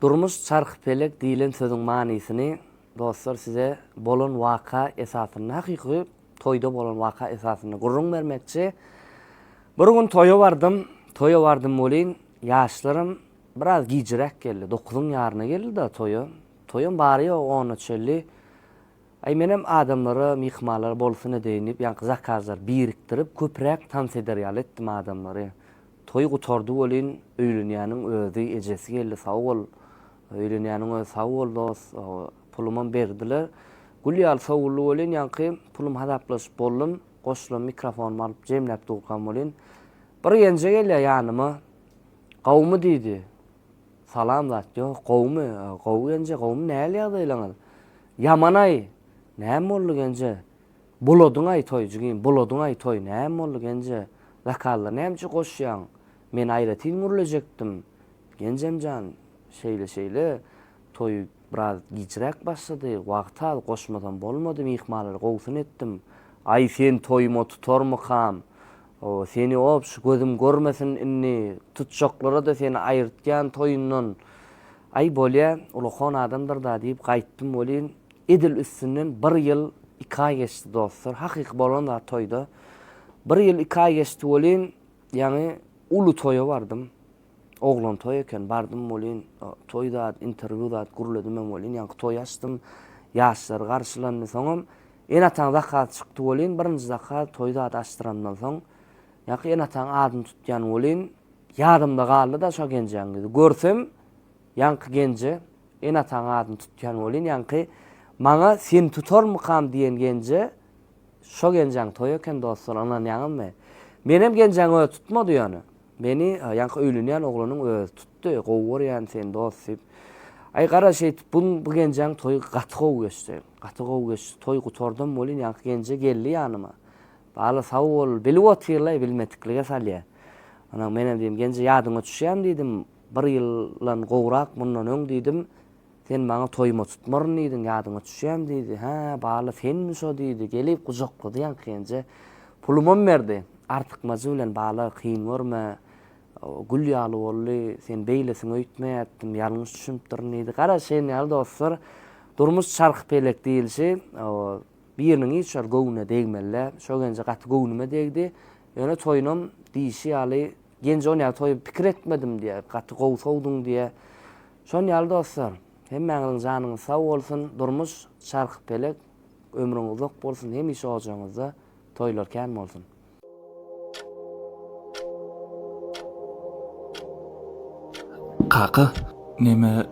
Durmuş çarh pelek diýlen sözüň manysyny dostlar size bolan waka esasynda hakyky toýda bolan waka esasynda gürrüň bermekçi. Bir gün toýa bardym, toýa bardym welin ýaşlarym biraz gijiräk geldi, dokuzyň ýaryna geldi-de toýa. Toýam bary ýogy ona çelli. Aý menem adamlara myhmanlar bolsun edeýin diýip ýaňky zakazlary birikdirip köpüräk tans eder ýaly etdim adamlary. Toý gutardy welin öýlenýäniň özi ejesi geldi sag bol öýlenýäniň özi sag bol dos pulumam berdiler. Gül ýaly sowuldy welin ýaňky pulum hasaplaşyp boldum goşulan mikrofonymy alyp jemläp durkam welin bir genje gelýär ýanyma gawumy diýdi Salam zat ýok gowumy. Gowy genje gowumy näl ýagdaýlaňyz. Ýamanaý näme boldy genje. Buladyňaý toý jigim buladyňaý toý näme boldy genje. Zakazlar näme üçin goşýaň. Men aýratyn gürlejekdim. Genjemjan şeýle şeýle toý biraz gijräk başlady. Wagty az goşmasam bolmady myhmanlar gowusyny etdim. Aý sen toýuma tutarmykam. O seni obş gözüm görmesin indi tutjaklarada seni aýyrtýan toýundan aý bolýa ulakon adamdyrda diýip gaýtdym welin edil üstünden bir ýyl iki aý geçdi dostlar hakyky bolan zat toýda bir ýyl iki aý geçdi welin ýaňy uly toýa bardym oglan toý eken bardym welin toý zat interwýu zat gürledimem welin ýaňky toýy açdym ýaşlary garşylandy soňam Ene-ataň zakaty çykdy welin, birinji zakat toý zady açdyrandan soň, ýaňky ene-ataň adyny tutýan welin, ýadymda galdy-da şo genjeň ýüzi. Görsem, ýaňky genje, ene-ataň adyny tutýan welin, ýaňky maňa seni tutarmykam diýen genje, şo genjeň toýy eken dostlar, ynanýaňyzmy? Menem genjeň özi tutmady ýöne. Meni ýaňky öýlenýän oglanyň özi tutdy, gowy görýän seni dost diýip. Aý gara şeýdip, bu genjeň toýy gaty gowy geçdi. Gaty gowy geçdi toý gutardam welin ýaňky genje geldi ýanyma Bala sag bol bilip otyrlaý bilmediklige salýa Onam menem diýdim genje ýadyňa düşýämi diýdim bir ýyldan gowrak mundan öň diýdim sen maňa toýuma tutmaryn diýdiň ýadyňa düşýämi diýdi hä Bala senmi şo diýdi gelip gujaklady ýaňky genje pulumam berdi artykmajy bilen Bala kyn görme Gül ýaly boldy, sen beýlesiňi öýtmeýärdim, ýalňyş düşünipdirin diýdi. Gara, şeýn ýaly dostlar, durmuş çarhypelek diýilşi, biriniň iş ýoly göwnüne degmeli-dä. Şo genje gaty göwnüme degdi. Ýöne toýunam diýşi ýaly, genje on ýaly toýy pikir etmedim diýýä, gaty gowy sowduň diýýä. Şon ýaly dostlar, hemmäňiziň janyňyz sag bolsun, durmuş çarhypelek, ömrüň uzak bolsun, hemişe ojagyňyzda toýlar kän bolsun! Kaka, neme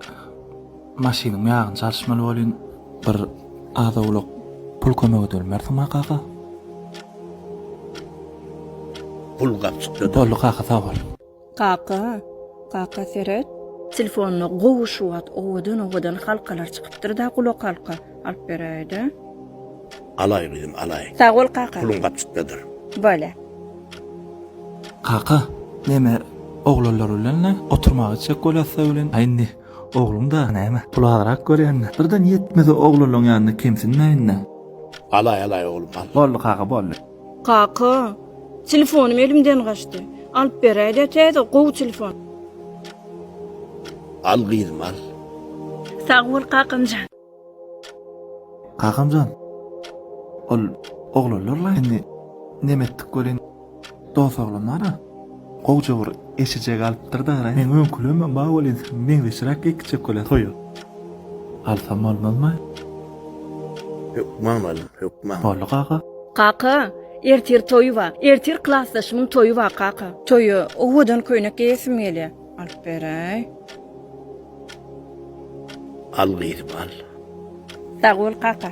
maşynyň ýagyny çalyşmaly bolýn. Bir az-owlak pul kömek edermersiňma, kaka? Pul gapjykdadyr. Boldy, kaka, sag bol. Kaka, kaka seret. Telefonda gowy şu wagt owadan owadan halkalar çykypdyrda gulakhalka alyp beräýdä. Alaý gyzym alaý. Sag bol kaka. Puluň gapjykdadyr. Bolýa. Kaka, neme oglanlar bilenle oturmaga gitjek bolýasda welin, a indi ogluň dagy näme, pul azrak görýände, birden ýetmese oglanlaň ýanyna kemsinmäýinda. Alaý alaý oglum al. Boldy kaka boldy. Kaka, telefonym elimden gaçdy. Alyp beräýdä täze, gowy telefon. Al gyzym, al. Sag bol kakamjan. Kakamjan, ol oglanlar laýyny neme etdik welin, dos oglanlar-a. Gowja bir eşije galypdyr dara. Meň öňkülemem bar welin seň meňzeşräk iki çökele soýup alsam bolmazmy? Hökman alyn, hökman. Boldy kaka. Kaka, ertir toýy bar. Ertir klasdaşymyň toýy bar kaka. Toýa owadan köýnek geýesim gelýär. Alyp beräý. Al gyzym, al. Sag bol kaka.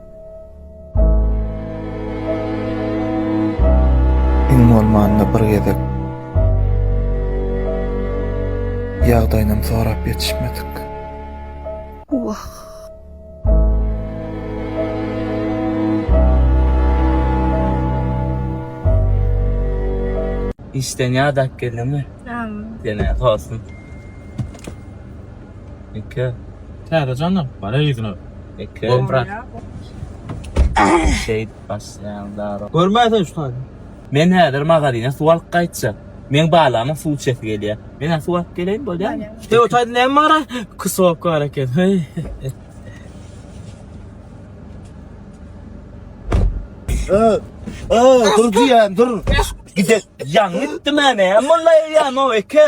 Iň bolmanda bir gezek ýagdaýynam sorap ýetişmedik. Wah! Işden ýadap geldiňmi? Ýa. Ýene tolsun. Eke. Täze janlar. Bana ýüzüne. Eke. Gol brat. Şeýt basýan dara. Görmäýsen şu taýda. Men häzir magazyna suw alyp gaýtjak. Meň balamyň suw içesi gelýär. Menä suw alyp geleýin bolýamy? Heý o taýda näme bara? Kusok bar eken. Heý. Ö. Ö, dur diýen, dur. Gide. Ýanyp gitdim näme? Molla ýa no eke.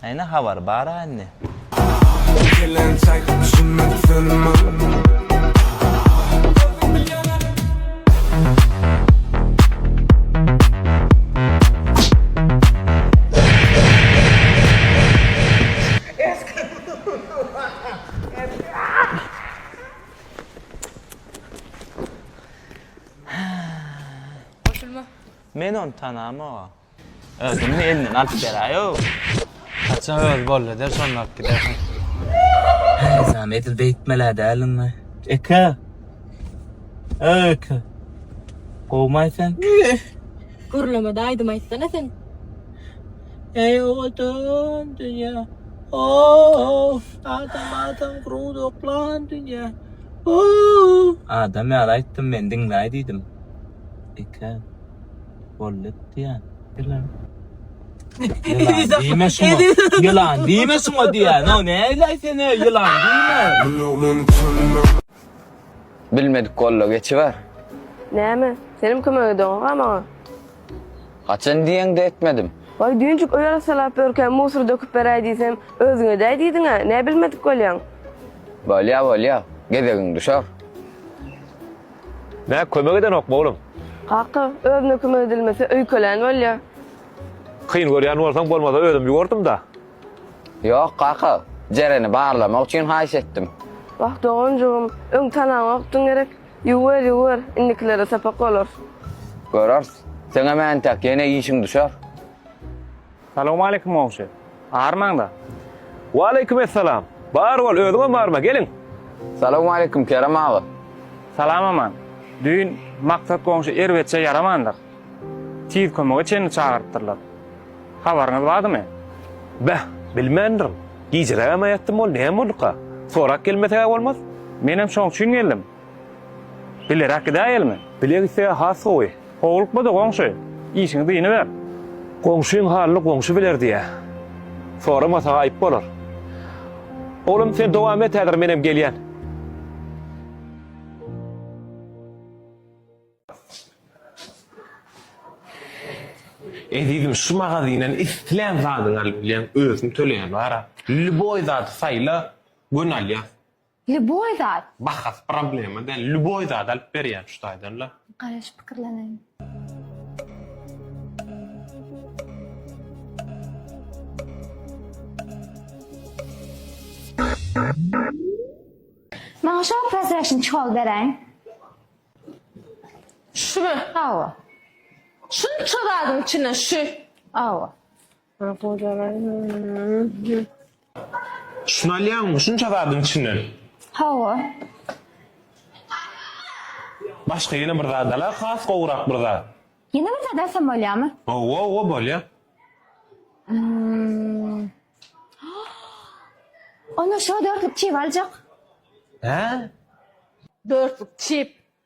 Näne habar bara indi. Goşulma. Men ony tanamok. Özüňmi elinden alyp beräýow. Haçan öz boldy der şonda alyp gidersiň. Nizam edil beýtmelä däldiňmi. Eke! Öý eke! Gowmaý sen? Gürlemede aýdym aýtsana sen. Eý owadan dünýä. Ow! Adam adam gurup oklan dünýä. Ow! Adam ýaly aýtdym men diňläý diýdim. Eke! Bolupdyr. Ýylan. Ýylan diýme şuňa. Ýylan diýme şuňa diýýän. Haw näleý sen öý ýylan diýme. Bilmedik golla geçiber. Näme? Senem kömek edoňoga maňa. Haçan diýeňde etmedim. Waý düýnjik öý arassalap ýörkä musur döküp beräý diýsem, özüň edäý diýdiňä, nä bilmedik bolýaň. Bolýa bolýa, gezegiň düşer. Nä kömek edenokmy oglum? Kaka, özüne kömek edilmese öýkelän bolýa. Kyn görýän bolsaň bolmasa özüm ýugurdym-da. Ýok, kaka. Jereni barlamak üçin haýyş etdim. Wah, doganjygym, öň tanaňokdyň gerek. Ýuwwer, ýuwwer, indikilere sapak bolar. Göreris. Seňem entek ýene işiň düşer. Salowmaleýkim Mogşy. Barmaňda. Waleýkim essalam. Bar bol, özüňem barma, gelin. Salowmaleýkim Kerem aga. Salam Aman. Düýn Maksat goňşy erbetçe ýaramandyr. Tiz kömege çenli çagyrypdyrlar. Habaryňyz bardymy? Beh, bilmändirin. Gijerägem aýatdym ol, näme bolduka? Sorap gelmesegä bolmaz. Menem şoň üçin geldim. Bileräk gidäýelimi? Bile gitse has gowy. Howlukma-da, goňşy. Işiňi dynyber. Goňşyň halyny goňşy biler diýýä. Soramasa-ha aýyp bolar. Oglum, sen dowam et häzir, menem gelýän. Ezizim, şu magazindan islän zadyňy alyp bilýäň, özüň töleýän bar-a. Lýuboý zady saýla, göni alýas. Lýuboý zat. Bahasy problema däl. Lýuboý zady alyp berýän şu taýdan-la. Garaş pikirleneýin. Maňa şo prezreşni çol beräýiň. Şumy? Hawa. Şunça zadyň içinden şu. Hawa. Ha gojalar. Şuny alýaňmy? Şunça zadyň içinden. Hawa. Başga ýene bir zat al-a, has gowurak bir zat. Ýene bir zat alsam bolýarmy? Hawa, hawa bolýar. Hmm. Onda şo dörtlük çip aljak. Hä? Dörtlük çip.